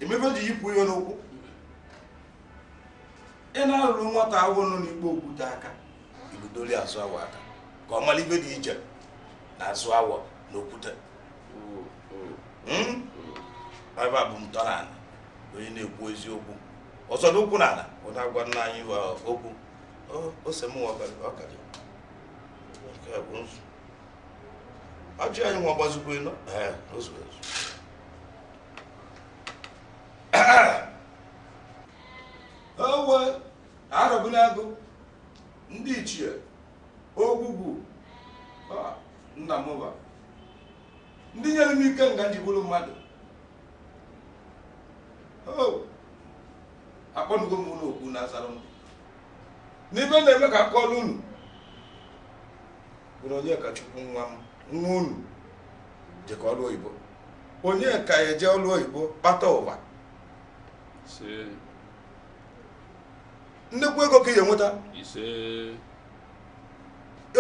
emebe ji yipụ ihe n'ụkwụ ị na-arụrụ nwata awọ nọ n'ikpo okwute aka igudoli azụ awọ aka ka ọ mara ive dị iche na azụ awọ na okwute hmm? ebe a bụ m tọ n'ala onye na-ekwu eziokwu ọ zọlụ ụkwụ n'ana ọ na-agwa nna anyị okwu ose m ọkara nke bụ nzu ajụ anyị nwa gbazikwa elu ozu ezu owe Arọbịnagụ ndị ichie Ogwugwu nna m va ndị nyere m ikenga m ji bụrụ mmadụ Oh! akpọnugo m unu oku na azara m n'ive na-eme ka a kọọlụ unu bụrụ onye ka Chukwu nwa m nwa unu jekọ ọrụ oyibo onye ka ya eje ọrụ oyibo kpata ụba ise nnekwu ego ka ị ga-enweta ise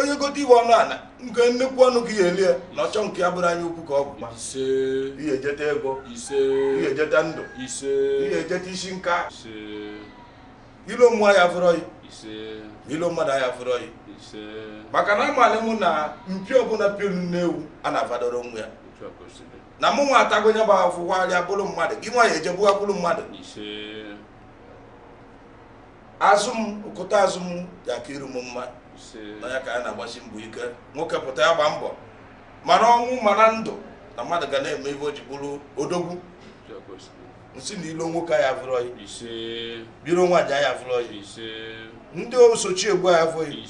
onye gote ive ọnụ ala nke nnukwu ọnụ ka ị ga-eli ya na-achọ nke ya bụrụ anya ukwu ka ọ bụ ị ya-ejeta ego ị ya-ejeta ndụ ị ya-ejeta isi nka ilo mmụọ ya fụrọ yi ilo mmadụ ya fụrọ yi maka na amalị mụ na mpi ọbụla piolu n'ewu a na-afadoro nwa ya na mụ nwa atago nya bụ afụkwarịa bụrụ mmadụ gị nwa ya ejebuga bụrụ mmadụ azụ m okụta azụ m ya-aka iru m mma na ya ka a na-agbasi mbọ ike nwoke pụta ya gba mbọ ma n'ọnwụ ma na ndụ na mmadụ ga na-eme ive o ji bụrụ odogwu m sị na ilo nwoke ya vụrọ yi ilo nwaanyị ya vụrọ yi ndị osochi egbu ya vụrọ yi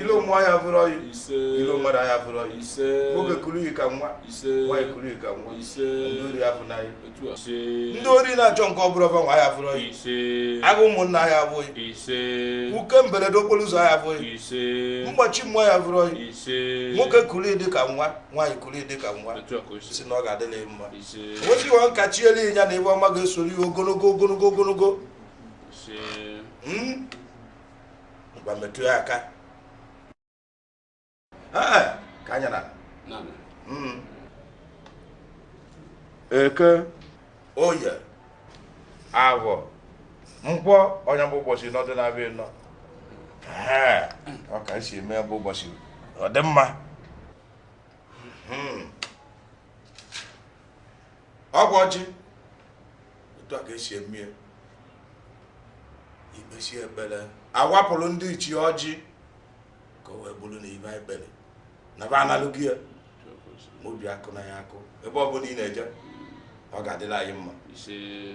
ilo mmụọ ya vụrọ yi ilo mmadụ ya vụrọ yi nwoke kuru yi ka nwa nwaanyị kuru yi ka nwa ndị ori ya vụna yi ndị ori na-achọ nke ọ bụrọ va nwe ya fụrọ yi agụ ụmụnna ya fụrọ yi uke mberede okporo ụzọ ya fụrọ yi mgbachi mmụọ ya fụrọ yi nwoke kuru gị ka nwa nwaanyị kuru gị ka nwa sị na ọ ga-adịlị mma nwoke iwe nka chiele ya na ive ọma ga-esoro ya ogologo ogologo ogologo hmm? ngwa metụ ya aka ka anya na hmm. eke oye avọ nkwọ onye bụ ụbọchị nọdụ na-abịa nọ ọ ka esi eme bụ ụbọchị ọ dị mma hmm. ịgọ ọjị otu a ka esi eme i kpesịa ekpere a wapụrụ ndị ichie ọjị ka o wee bụrụ na ive anyị kpere n'eba a nalụ gị ya ma obi akụ na ya akụ ebe ọ bụla ị na-eje ọ ga-adịlị anyị mma